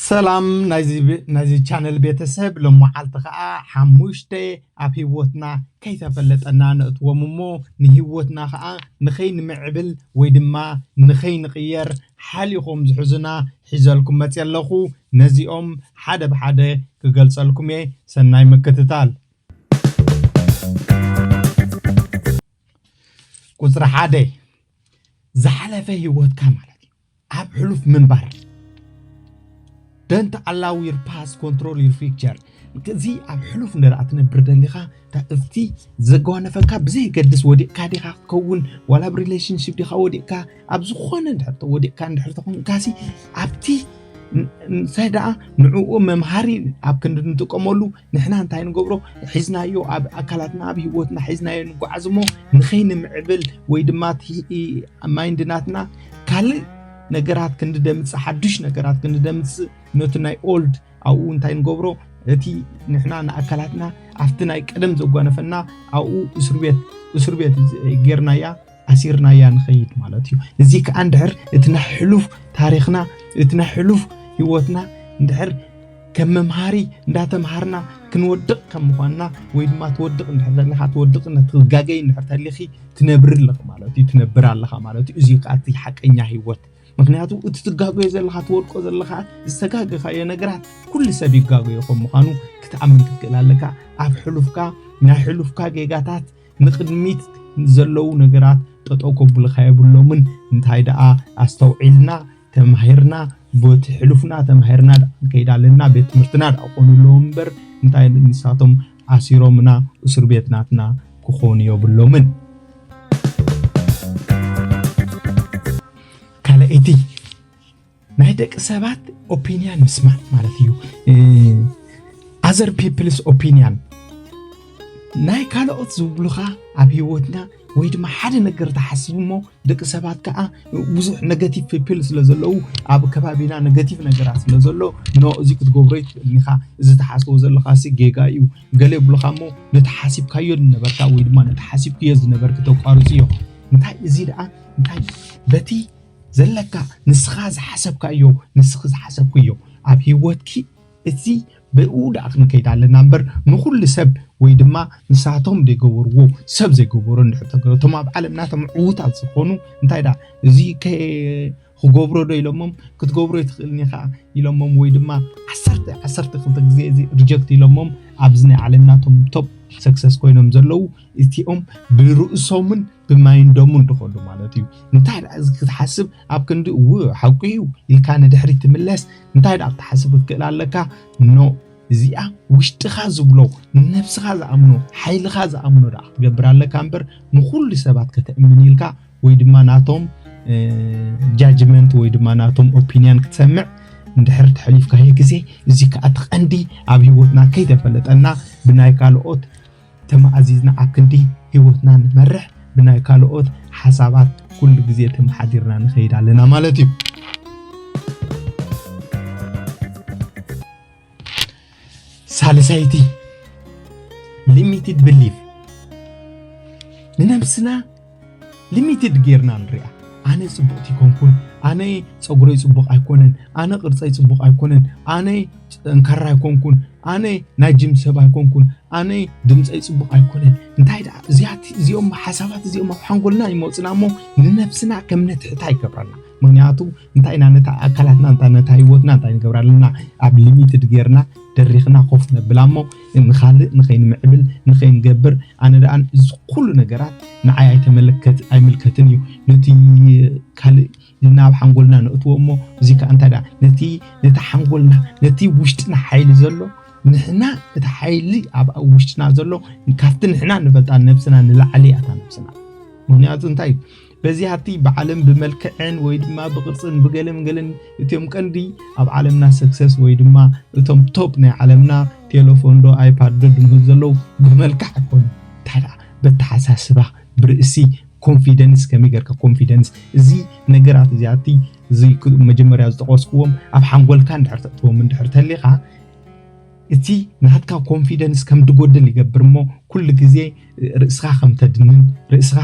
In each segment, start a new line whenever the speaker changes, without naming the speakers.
ሰላም ናይዚ ቻነል ቤተሰብ ሎመዓልቲ ከዓ ሓሙሽተ ኣብ ሂወትና ከይተፈለጠና ነእትዎም እሞ ንሂወትና ከዓ ንከይንምዕብል ወይ ድማ ንከይንቅየር ሓሊኮም ዝሕዙና ሒዘልኩም መፅየ ኣለኩ ነዚኦም ሓደ ብሓደ ክገልፀልኩም እየ ሰናይ ምክትታል። ቁፅሪ ሓደ ዝሓለፈ ህይወትካ ማለት እዩ ኣብ ሕሉፍ ምንባር ደንት ኣላው ዩር ፓስ ኮንትሮል ዩር ፊክቸር እዚ ኣብ ሕሉፍ ንደኣ ትነብር ደሊኻ እቲ ዘጓነፈካ ብዘየገድስ ወዲቕካ ዲኻ ክትከውን ዋላ ኣብ ሪሌሽንሽፕ ዲኻ ወዲቕካ ኣብ ዝኾነ ድሕርቲ ወዲቕካ እንድሕር ተኾንካሲ ኣብቲ እንታይ ደኣ ንዕኡ መምሃሪ ኣብ ክንዲ ንጥቀመሉ ንሕና እንታይ ንገብሮ ሒዝናዮ ኣብ ኣካላትና ኣብ ሂወትና ሒዝናዮ ንጓዓዝ እሞ ንኸይንምዕብል ወይ ድማ እቲ ማይንድ ናትና ካልእ ነገራት ክንደምፅእ ሓዱሽ ነገራት ክንደምፅእ ነቲ ናይ ኦልድ ኣብኡ እንታይ ንገብሮ እቲ ንሕና ንኣካላትና ኣብቲ ናይ ቀደም ዘጓነፈና ኣብኡ እስር ቤት እስር ቤት ጌርናያ ኣሲርናያ ንኸይድ ማለት እዩ እዚ ከዓ እንድሕር እቲ ናይ ሕሉፍ ታሪኽና እቲ ናይ ሕሉፍ ህይወትና እንድሕር ከም መምሃሪ እንዳተምሃርና ክንወድቕ ከም ምኳንና ወይ ድማ ትወድቕ እንድሕር ዘለካ ትወድቕ ትጋገይ እንድሕር ተሊኺ ትነብሪ ኣለኺ ማለት እዩ ትነብር ኣለኻ ማለት እዩ እዚ ከዓ እቲ ሓቀኛ ህይወት ምክንያቱ እቲ ትጋገዮ ዘለካ ትወድቆ ዘለካ ዝተጋገኻዮ ነገራት ኩሉ ሰብ ይጋገዮ ከም ምኳኑ ክትኣምን ክትክእል ኣለካ ኣብ ሕሉፍካ ናይ ሕሉፍካ ጌጋታት ንቕድሚት ዘለዉ ነገራት ጠጠው ከብሉኻ የብሎምን እንታይ ደኣ ኣስተውዒልና ተማሂርና ቦቲ ሕሉፍና ተማሂርና ደኣ ንከይድ ኣለና ቤት ትምህርትና ደኣ ክኾኑ ኣለዎም እምበር እንታይ ንሳቶም ኣሲሮምና እሱር ቤት ናትና ክኾኑ የብሎምን ካልኣይቲ ናይ ደቂ ሰባት ኦፒንያን ምስማዕ ማለት እዩ ኣዘር ፒፕልስ ኦፒንያን ናይ ካልኦት ዝብሉኻ ኣብ ሂወትና ወይ ድማ ሓደ ነገር ተሓስቡ እሞ ደቂ ሰባት ከዓ ብዙሕ ነገቲቭ ፒፕል ስለ ዘለዉ ኣብ ከባቢና ነገቲቭ ነገራት ስለ ዘሎ ኖ እዚ ክትገብሮ ይትኽእልን ኢኻ እዚ ተሓስቦ ዘለኻ ሲ ጌጋ እዩ ገለ ይብሉኻ እሞ ነቲ ሓሲብካዮ ዝነበርካ ወይ ድማ ነቲ ሓሲብክዮ ዝነበርክ ተቋርፅ እዮም እንታይ እዚ ደኣ እንታይ በቲ ዘለካ ንስካ ዝሓሰብካዮ ንስኪ ዝሓሰብክዮ ኣብ ሂወትኪ እዚ ብኡ ደኣ ክንከይድ ኣለና እምበር ንኩሉ ሰብ ወይ ድማ ንሳቶም ዘይገበርዎ ሰብ ዘይገበሮ እንድሕር ተገይሩ እቶም ኣብ ዓለምና እቶም ዕዉታት ዝኾኑ እንታይ ደኣ እዚ ክገብሮ ዶ ኢሎሞም ክትገብሮ ኣይትኽእልን ኢኻ ኢሎሞም ወይ ድማ ዓሰርተ ዓሰርተ ክልተ ግዜ እዚ ሪጀክት ኢሎሞም ኣብዚ ናይ ዓለምና እቶም ቶፕ ሰክሰስ ኮይኖም ዘለዉ እቲኦም ብርእሶምን ብማይን ደሙን ድኸዱ ማለት እዩ። እንታይ ደኣ እዚ ክትሓስብ ኣብ ክንዲ እው ሓቁ እዩ ኢልካ ንድሕሪት ትምለስ እንታይ ደኣ ክትሓስብ ክትክእል ኣለካ ኖእ እዚኣ ውሽጥኻ ዝብሎ ንነብስኻ ዝኣምኖ ሓይልኻ ዝኣምኖ ደኣ ክትገብር ኣለካ እምበር ንኹሉ ሰባት ከተእምን ኢልካ ወይ ድማ ናቶም ጃጅመንት ወይ ድማ ናቶም ኦፒንያን ክትሰምዕ እንድሕር ተሕሊፍካዮ ግዜ እዚ ከዓ እቲ ቀንዲ ኣብ ሂወትና ከይተፈለጠና ብናይ ካልኦት ተማእዚዝና ኣብ ክንዲ ህይወትና ንመርሕ ብናይ ካልኦት ሓሳባት ኩሉ ግዜ ተመሓዲርና ንኸይድ ኣለና ማለት እዩ። ሳልሳይቲ ሊሚትድ ብሊፍ ንነብስና ሊሚትድ ጌርና ንሪኣ ኣነ ጽቡቕቲ ኣይኮንኩን ኣነ ጸጉረይ ጽቡቕ ኣይኮነን ኣነ ቅርጸይ ጽቡቕ ኣይኮነን ኣነ ጠንካራ ኣይኮንኩን ኣነ ናይ ጅም ሰብ ኣይኮንኩን ኣነ ድምፀይ ጽቡቕ ኣይኮነን እንታይ ደኣ እዚኣት እዚኦም ሓሳባት እዚኦም ኣብ ሓንጎልና ይመፁና እሞ ንነብስና ከም ነትሕታ ይገብረና ምክንያቱ እንታይ ኢና ነታ ኣካላትና እንታ ነታ ህይወትና እንታይ ንገብራ ኣለና ኣብ ሊሚትድ ጌርና ደሪኽና ኮፍ ነብላ እሞ ንኻልእ ንኸይንምዕብል ንኸይንገብር ኣነ ደኣ እዚ ኩሉ ነገራት ንዓይ ኣይተመለከት ኣይምልከትን እዩ ነቲ ካልእ ናብ ሓንጎልና ነእትዎ እሞ እዚ ከዓ እንታይ ደኣ ነቲ ነቲ ሓንጎልና ነቲ ውሽጥና ሓይሊ ዘሎ ንሕና እቲ ሓይሊ ኣብ ውሽጥና ዘሎ ካብቲ ንሕና ንፈልጣ ነብስና ንላዕሊ እያ እታ ነብስና ምክንያቱ እንታይ በዚ ሃብቲ ብዓለም ብመልክዕን ወይ ድማ ብቅርጽን ብገለን ገለን እትዮም ቀንዲ ኣብ ዓለምና ሰክሰስ ወይ ድማ እቶም ቶፕ ናይ ዓለምና ቴለፎን ዶ ኣይፓድ ዶ ድምህብ ዘለዉ ብመልክዕ ኣይኮኑ ታዳ በተሓሳስባ ብርእሲ ኮንፊደንስ ከመይ ገርካ ኮንፊደንስ እዚ ነገራት እዚኣቲ እዚ መጀመርያ ዝጠቀስክዎም ኣብ ሓንጎልካ እንድሕር ተእትዎም እንድሕር ተሊኻ እቲ ናትካ ኮንፊደንስ ከም ድጎድል ይገብር እሞ ኩሉ ግዜ ርእስኻ ከም ተድንን ርእስኻ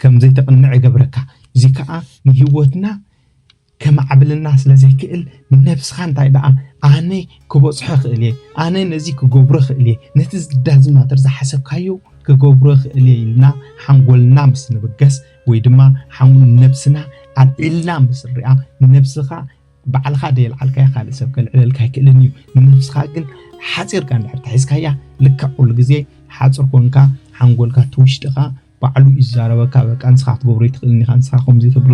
ከም ዘይተቕንዕ ይገብረካ። እዚ ከኣ ንህይወትና ከማዕብለልና ስለ ዘይክእል ንነብስኻ እንታይ ደኣ ኣነ ክበጽሖ ክእል እየ፣ ኣነ ነዚ ክገብሮ ክእል እየ፣ ነቲ ዝዳዝ ማተር ዝሓሰብካዮ ክገብሮ ክእል እየ ኢልና ሓንጎልና ምስ ንብገስ ወይ ድማ ነብስና ኣልዒልና ምስ ንሪኣ ንነብስኻ ባዕልኻ ዘየልዓልካያ ካልእ ሰብ ከልዕለልካ ኣይክእልን እዩ ንነብስኻ ግን ሓፂርካ እንድሕር ተሒዝካያ ልክዕ ኩሉ ግዜ ሓፅር ኮንካ ሓንጎልካ ትውሽጥኻ ባዕሉ እዩ ዝዛረበካ በቃ ንስኻ ክትገብሮ ይትኽእልን ኢኻ ንስኻ ከምዚ ትብሎ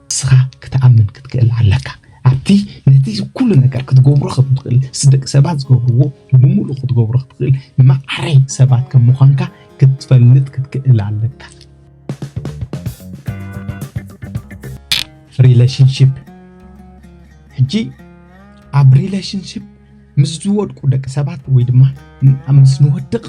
ንስኻ ክትኣምን ክትክእል ኣለካ ኣብቲ ነቲ ኩሉ ነገር ክትገብሮ ከም ትኽእል ደቂ ሰባት ዝገብርዎ ብምሉእ ክትገብሮ ክትኽእል ማዕረ ሰባት ከም ምዃንካ ክትፈልጥ ክትክእል ኣለካ ሪለሽንሽፕ ሕጂ ኣብ ሪለሽንሽፕ ምስ ዝወድቁ ደቂ ሰባት ወይ ድማ ምስ ንወድቕ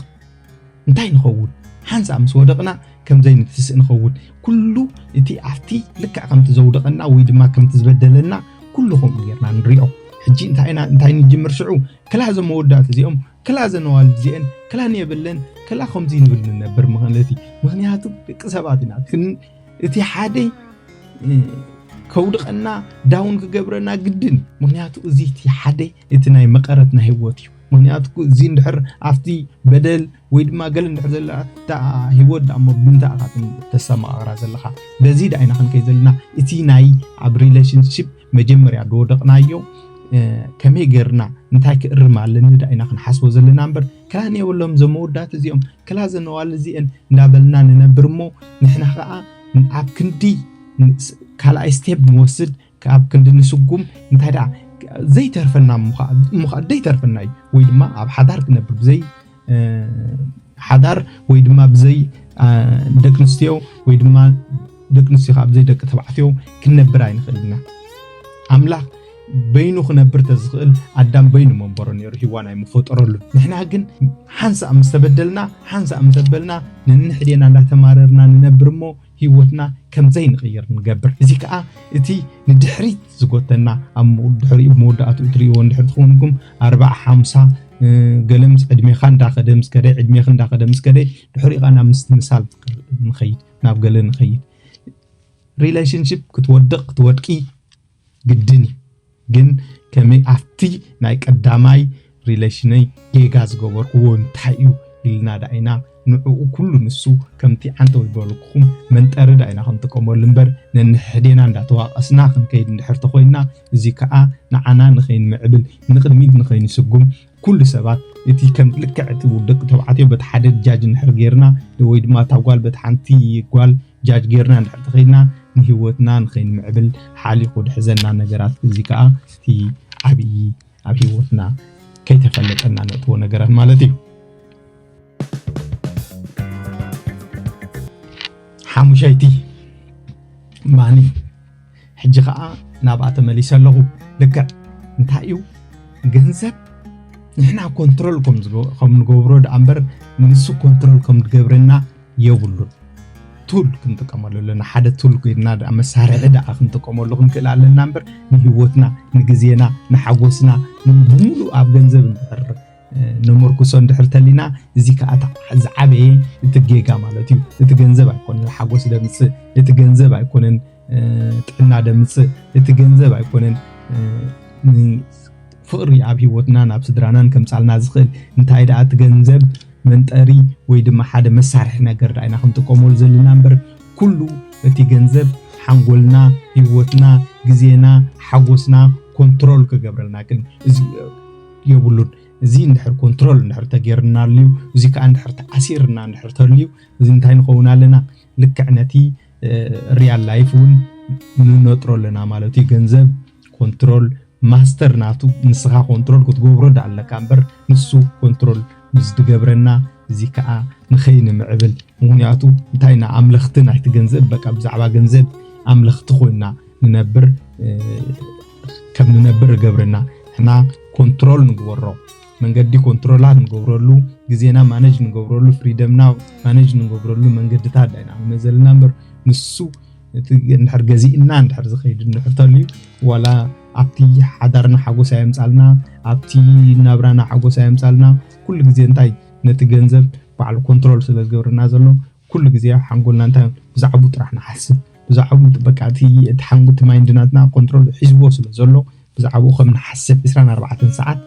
እንታይ ንኸውን ሓንሳእ ምስ ወደቕና ከምዘይ ንትስእ ንኸውን ኩሉ እቲ ኣብቲ ልክዕ ከምቲ ዘውደቐና ወይ ድማ ከምቲ ዝበደለና ኩሉ ከምኡ ጌርና ንሪኦ ሕጂ እንታይ ንጅምር ሽዑ ክላ እዞም መወዳእቲ እዚኦም ክላ እዘን ኣዋልድ እዚኤን ክላ ንየብለን ክላ ከምዙይ ንብል ንነብር ማለት እዩ ምክንያቱ ደቂ ሰባት ኢና እቲ ሓደ ከውድቀና ዳውን ክገብረና ግድን ምክንያቱ እዚ እቲ ሓደ እቲ ናይ መቐረት ናይ ህይወት እዩ ምክንያቱ እዚ እንድሕር ኣብቲ በደል ወይ ድማ ገለ እንድሕር ዘላ እታ ህይወት ዳሞ ብምንታይ ኢኻ ተሰማቕራ ዘለኻ በዚ ዳኢና ክንከይ ዘለና እቲ ናይ ኣብ ሪሌሽንሽፕ መጀመርያ ዝወደቕናዮ ከመይ ጌርና እንታይ ክእርም ኣለኒ ዳ ኢና ክንሓስቦ ዘለና እምበር ክላን የብሎም እዞም መወዳት እዚኦም ክላ ዘነዋል እዚአን እንዳበልና ንነብር እሞ ንሕና ከዓ ኣብ ክንዲ ካልኣይ ስቴፕ ንወስድ ኣብ ክንዲ ንስጉም እንታይ ደኣ ዘይተርፈና እሞ ከዓ ዘይተርፈና እዩ ወይ ድማ ኣብ ሓዳር ክነብር ብዘይ ሓዳር ወይ ድማ ብዘይ ደቂ ኣንስትዮ ወይ ድማ ደቂ ኣንስትዮ ካብ ዘይ ደቂ ተባዕትዮ ክንነብር ኣይንኽእል ኢና ኣምላኽ በይኑ ክነብር ተዝኽእል ኣዳም በይኑ መንበሮ ነይሩ ሂዋን ኣይምፈጠረሉ ንሕና ግን ሓንሳእ ምስ ተበደልና ሓንሳእ ምስ ኣበልና ነንሕዴና እንዳተማረርና ንነብር እሞ ህይወትና ከም ዘይንቕይር ንገብር። እዚ ከኣ እቲ ንድሕሪት ዝጎተና ኣብ ድሕሪኡ መወዳእትኡ ትርእይዎ እንድሕር ትኾንኩም ኣርባዓ ሓምሳ ገለ ምስ ዕድሜኻ እንዳኸደ ምስ ከደ ዕድሜኺ እንዳኸደ ምስ ከደ ድሕሪኡ ናብ ምስትምሳል ንኸይድ ናብ ገለ ንኸይድ ሪሌሽንሽፕ ክትወድቕ ክትወድቂ ግድን እዩ ግን ከመይ ኣብቲ ናይ ቀዳማይ ሪሌሽነይ ጌጋ ዝገበርክዎ እንታይ እዩ ኢልና ዳ ኢና ንዕኡ ኩሉ ንሱ ከምቲ ዓንተ ወይ በልኩኹም መንጠሪ ዳ ኢና ክንጥቀመሉ እምበር ነንሕድሕዴና እንዳተዋቐስና ክንከይድ እንድሕር ተኾይንና እዚ ከዓ ንዓና ንኸይንምዕብል ንቕድሚት ንኸይንስጉም ኩሉ ሰባት እቲ ከም ልክዕ እቲ ደቂ ተባዕትዮ በቲ ሓደ ጃጅ እንድሕር ጌርና ወይ ድማ እታ ጓል በቲ ሓንቲ ጓል ጃጅ ጌርና እንድሕር ተኸድና ንሂወትና ንኸይንምዕብል ሓሊኹ ድሕዘና ነገራት እዚ ከዓ እቲ ዓብዪ ኣብ ሂወትና ከይተፈለጠና ነእትዎ ነገራት ማለት እዩ ሓሙሻይቲ ማኒ ሕጂ ከኣ ናብኣ ተመሊሰ ኣለኹ ልክዕ እንታይ እዩ ገንዘብ ንሕና ኮንትሮል ከም ንገብሮ ደኣ እምበር ንሱ ኮንትሮል ከም ዝገብረና የብሉን ቱል ክንጥቀመሉ ኣለና ሓደ ቱል ኮይንና ደኣ መሳርሒ ደኣ ክንጥቀመሉ ክንክእል ኣለና እምበር ንህይወትና ንግዜና ንሓጎስና ብምሉእ ኣብ ገንዘብ እንድሕር ነመርኩሶ እንድሕር ተሊና እዚ ከዓ እቲ ዝዓበየ እቲ ጌጋ ማለት እዩ እቲ ገንዘብ ኣይኮነን ሓጎስ ደምፅእ እቲ ገንዘብ ኣይኮነን ጥዕና ደምፅእ እቲ ገንዘብ ኣይኮነን ፍቕሪ ኣብ ሂወትናን ኣብ ስድራናን ከምፃልና ዝኽእል እንታይ ደኣ እቲ ገንዘብ መንጠሪ ወይ ድማ ሓደ መሳርሒ ነገር ደኣ ኢና ክንጥቀመሉ ዘለና እምበር ኩሉ እቲ ገንዘብ ሓንጎልና ሂወትና ግዜና ሓጎስና ኮንትሮል ክገብረልና ግን የብሉን እዚ እንድሕር ኮንትሮል እንድሕር ተጌርናሉ እዚ ከዓ እንድሕር ተኣሲርና እንድሕር ተልዩ እዚ እንታይ ንኸውን ኣለና ልክዕ ነቲ ሪያል ላይፍ እውን ንነጥሮ ኣለና ማለት እዩ ገንዘብ ኮንትሮል ማስተር ናቱ ንስኻ ኮንትሮል ክትገብሮ ዳ ኣለካ እምበር ንሱ ኮንትሮል ምስ ዝገብረና እዚ ከዓ ንኸይንምዕብል ምክንያቱ እንታይ ኢና ኣምለኽቲ ናይቲ ገንዘብ በቃ ብዛዕባ ገንዘብ ኣምለኽቲ ኮይና ንነብር ከም ንነብር እገብረና ሕና ኮንትሮል ንግበሮ መንገዲ ኮንትሮላት ንገብረሉ ግዜና ማነጅ ንገብረሉ ፍሪደምና ማነጅ ንገብረሉ መንገድታት ዳይና መዘልና እምበር ንሱ እቲ እንድሕር ገዚእና እንድሕር ዝኸይድ እንድሕር ተልዩ ዋላ ኣብቲ ሓዳርና ሓጎስ ኣየምፃልና ኣብቲ ናብራና ሓጎስ ኣየምፃልና ኩሉ ግዜ እንታይ ነቲ ገንዘብ ባዕሉ ኮንትሮል ስለ ዝገብረና ዘሎ ኩሉ ግዜ ኣብ ሓንጎልና እንታይ ብዛዕብኡ ጥራሕ ንሓስብ ብዛዕብኡ በቃ እቲ እቲ ሓንጎ እቲ ማይንድ ናትና ኮንትሮል ሒዝዎ ስለ ዘሎ ብዛዕብኡ ከም ንሓስብ 24 ኣርባዕተን ሰዓት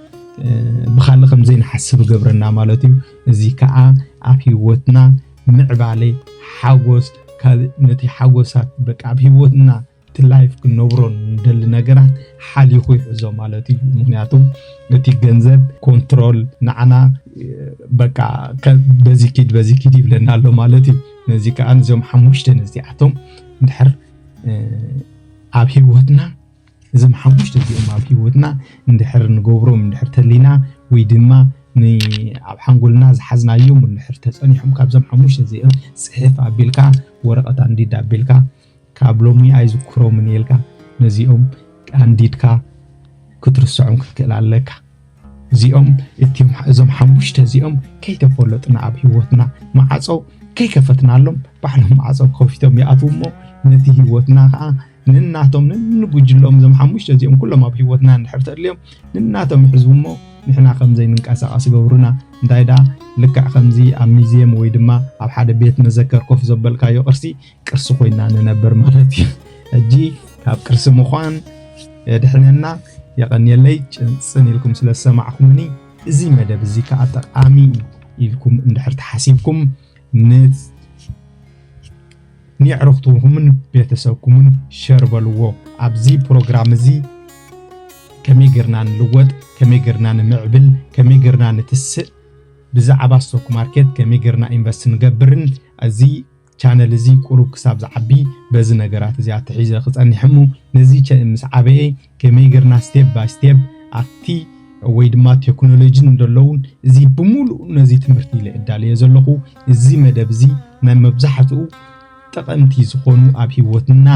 ብኻልእ ከም ዘይንሓስብ ይገብረና ማለት እዩ እዚ ከዓ ኣብ ሂወትና ምዕባለ ሓጎስ ካልእ ነቲ ሓጎሳት በቃ ኣብ ሂወትና እቲ ላይፍ ክንነብሮ ንደሊ ነገራት ሓሊኹ ይሕዞ ማለት እዩ ምክንያቱ እቲ ገንዘብ ኮንትሮል ንዓና በቃ በዚ ኪድ በዚ ኪድ ይብለና ኣሎ ማለት እዩ ነዚ ከዓ እዞም ሓሙሽተ ነዚኣቶም እንድሕር ኣብ ሂወትና እዞም ሓሙሽተ እዚኦም ኣብ ሂወትና እንድሕር ንገብሮም እንድሕር ተሊና ወይ ድማ ኣብ ሓንጎልና ዝሓዝናዮም እንድሕር ተፀኒሖም ካብዞም ሓሙሽተ እዚኦም ፅሕፍ ኣቢልካ ወረቐት ኣንዲድ ኣቢልካ ካብ ሎሚ ኣይዝክሮምን ኢልካ ነዚኦም ኣንዲድካ ክትርሰዖም ክትክእል ኣለካ። እዚኦም እቲም እዞም ሓሙሽተ እዚኦም ከይተፈለጡና ኣብ ሂወትና ማዓጾ ከይከፈትናሎም ባዕሎም ማዓጾ ከፊቶም ይኣትዉ እሞ ነቲ ሂወትና ከዓ ንናቶም ንንጉጅሎም እዞም ሓሙሽተ እዚኦም ኩሎም ኣብ ሂወትና እንድሕር ተድልዮም ንናቶም ይሕዝቡ እሞ ንሕና ከምዘይ ንንቀሳቀስ ይገብሩና እንታይ ደኣ ልክዕ ከምዚ ኣብ ሚዝየም ወይ ድማ ኣብ ሓደ ቤት መዘከር ኮፍ ዘበልካዮ ቅርሲ ቅርሲ ኮይና ንነብር ማለት እዩ ሕጂ ካብ ቅርሲ ምዃን የድሕነና የቐንየለይ ጭንፅን ኢልኩም ስለ ዝሰማዕኩምኒ እዚ መደብ እዚ ከዓ ጠቃሚ ኢልኩም እንድሕር ተሓሲብኩም ንየዕርኽትኩምን ቤተሰብኩምን ሸር በልዎ ኣብዚ ፕሮግራም እዚ ከመይ ጌርና ንልወጥ ከመይ ጌርና ንምዕብል ከመይ ጌርና ንትስእ ብዛዕባ ስቶክ ማርኬት ከመይ ጌርና ኢንቨስት ንገብርን እዚ ቻነል እዚ ቁሩብ ክሳብ ዝዓቢ በዚ ነገራት እዚኣ ተሒዘ ክጸኒሕ እሞ ነዚ ምስ ዓበየ ከመይ ጌርና ስቴፕ ባይ ስቴፕ ኣብቲ ወይ ድማ ቴክኖሎጂ ዘለውን እዚ ብምሉእ ነዚ ትምህርቲ ኢለ እዳለየ ዘለኹ እዚ መደብ እዚ ናይ መብዛሕትኡ ጠቐምቲ ዝኾኑ ኣብ ሂወትና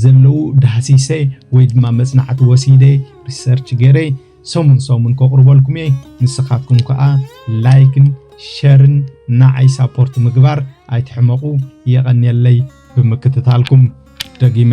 ዘለዉ ዳህሲሰ ወይ ድማ መጽናዕቲ ወሲደ ሪሰርች ገይረ ሰሙን ሰሙን ከቕርበልኩም እየ ንስኻትኩም ከኣ ላይክን ሸርን ንዓይ ሳፖርት ምግባር ኣይትሕመቑ የቐንየለይ ብምክትታልኩም ደጊመ